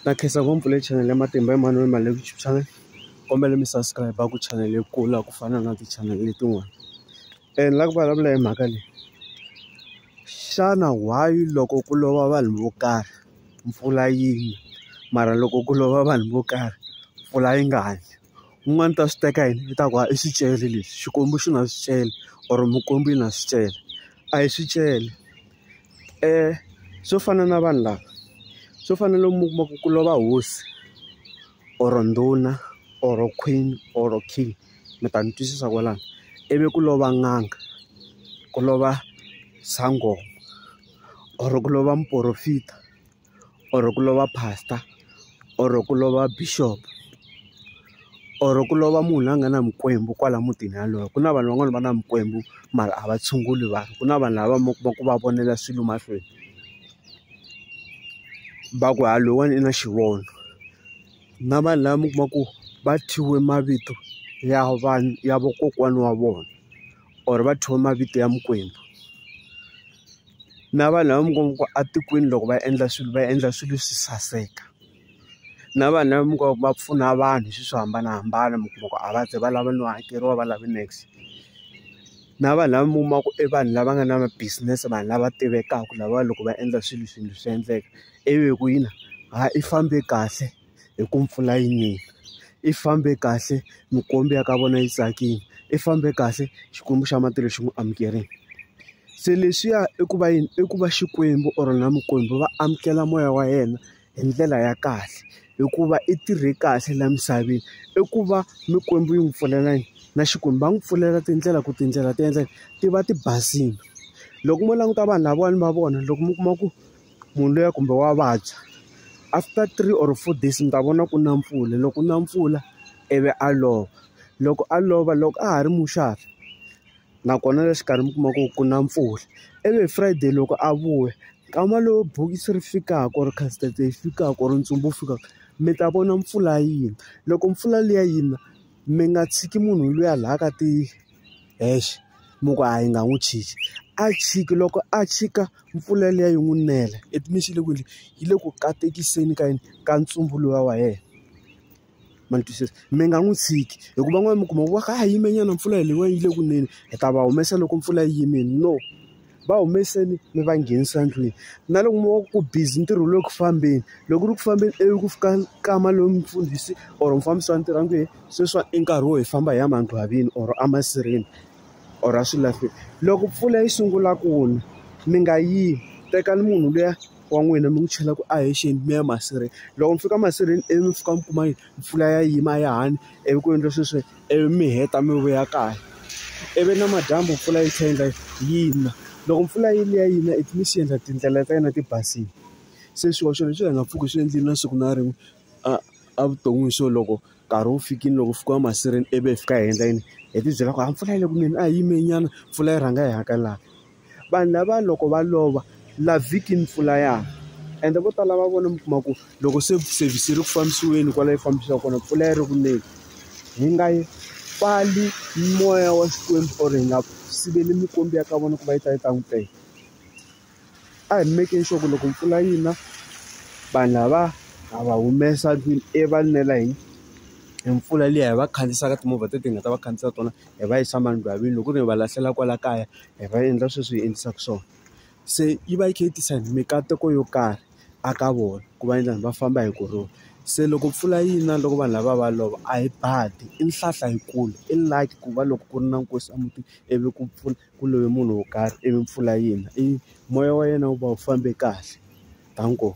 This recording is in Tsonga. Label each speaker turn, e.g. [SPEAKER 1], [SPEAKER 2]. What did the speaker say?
[SPEAKER 1] na khensa ngopfu le chanele ya matimba emhani mali le YouTube channel kombela mi subscribe ku chanele yi kula ku fana na tichanele letin'wana and la ku vulavula hi mhaka leyi xana why loko ku lova vanhu vo karhi mpfula yi mara loko ku lova vanhu vo karhi mpfula yi nga ni un'wana ta swi teka yini i ta ku i swi cele leswi xikwembu xi na swi cela or mukwembu yi na swi cela a hi swi cela. swo fana na vanhu lava swo fana na lomu u kuma ku ku lova hosi or ndhuna or queen or king mi ta ni twisisa kwalano ivi ku lova n'anga ku lova sangoma or ku lova muporofita. or ku lova pastor or ku lova bishop or ku lova munhu loyi a nga na mikwembu kwala mutini yaloye ku na vanhu van'wani va na mikwembu mara a va tshunguli vanhu ku na vanhu lava mi kuma ku va vonela swilo mahlweni va ku ha loyiwani i na xivono na vanhu lava mi kuma ku va thyiwe mavito ya vanhu ya vakokwana wa vona. or va thyiwa mavito ya mikwembu na vanhu lava mi kuma ku atikwini loko va endla swilo va endla swilo swi saseka na vanhu lava mi kuma ku va pfuna vanhu hi swilo swo hambanahambana mi kuma ku a va ze va lava no hakeriwa va lave niks na vanhu lava mi kuma ku i vanhu lava nga na ma business vanhu lava tivekaka lava loko va endla swilo swilo swi endleka ivi ku yini ha i fambe kahle. hi ku mpfula yi nile. Yi fambe kahle, minkomba ya ka vona yi tsakile, yi fambe kahle Xikwembu xa matilo xi n'wi amukerile. Se leswiya i ku va yini? I ku va Xikwembu or na mikwembu va amukela moya wa yena hi ndlela ya kahle, hikuva i tirhe kahle laha misaveni. I ku va mikwembu yi n'wi pfulela yini? Na Xikwembu va n'wi pfulela tindlela ku tindlela ti endla yini? Ti va ti basile. Loko mo languta vanhu lavawani va vona loko mi kuma ku. munhu luya kumbe wa vabya after three or four days mi ta vona ku na mpfula loko ku na mpfula ivi a lova loko a lova loko a ha ri muxavi nakona le xikarhi mi kuma ku ku na mpfula ivi hi Friday loko a vuya nkama lowu bokisi ri fikaka or casket-e yi fikaka or ntsumbu wu fikaka mi ta vona mpfula yi na loko mpfula liya yi na mi nga tshiki munhu luya laha ka ti. hexe mi ku a yi nga n'wi chiki a chiki loko a chika mpfula liya yi n'wi nela it means yi le ku endleni yi le ku katekiseni ka yini ka ntsumbu luwa wa yena ma ni twisisa mi nga n'wi tshiki hikuva van'wana mi kuma ku va kha a yimenyana mpfula leyiwani yi le ku neni hi ta va humesa loko mpfula yi yimile no. va humeseni mi va nghenisa ndlwini na loko mi wa ku busy ntirho lowu ku fambeni loko ri ku fambeni ivi ku fika nkama lowu mufundhisi or mufambisi wa ntirho a nge sweswi i nkarhi wo hi famba hi ya mangqwavini or emasirheni or a swilahlweni loko mpfula yi sungula ku na mi nga yi tekani munhu luya wa n'wina mi n'wi chela ku a hi xeni mi ya masirheni loko mi fika masirheni ivi mi fika mi kuma yi mpfula ya yima a ya ha ni ivi ku endla sweswo. Ivi mi heta mi vuya kaya ivi namadyambu mpfula yi tlhela yi endla yi na loko mpfula yi liya yi na it means swi endla tindlela ta yena ti basile se swihoxo leswi hi nga pfuki swi endlile na siku na rin'we a a vuton'wini so loko nkarhi wu fikile loko fika emasirheni ivi hi fika hi endla yini hi tibyela ku a mpfula yi le kunene a hi yimeni nyana mpfula yi rhanga yi hakela. Vanhu lava loko va lova la vhiki mpfula ya na ende vo tala va vona mi kuma ku loko se service ri ku fambisiweni kwala yi fambisiwa kona mpfula yi ri ku neni hi nga yi pfali moya wa xikwembu or hi nga siveli mikwembu ya ka vona ku va yi ta yi ta n'wi teka a hi mekeni sure ku loko mpfula yi na vanhu lava ha va humesa ndlwini ivi va nwela hi hi mpfula liya hi va khandziyisaka timovha teti hi nga ta va khandziyisa tona. hi va yisa emangwalweni loko ku ri hi va lahlela kwala kaya hi va endla sweswi hi endlisaka swona se yi va yi kha yi tisa mikateko yo karhi a ka vona ku va endla va famba hi kurhula se loko mpfula yi na loko vanhu lava va lova a hi badi i nhlahla yikulu i lucky ku va loko ku ri na nkosi a mutini ivi ku pfuna ku love munhu wo karhi ivi mpfula yi na i moya wa yena wu va wu fambe kahle thank u.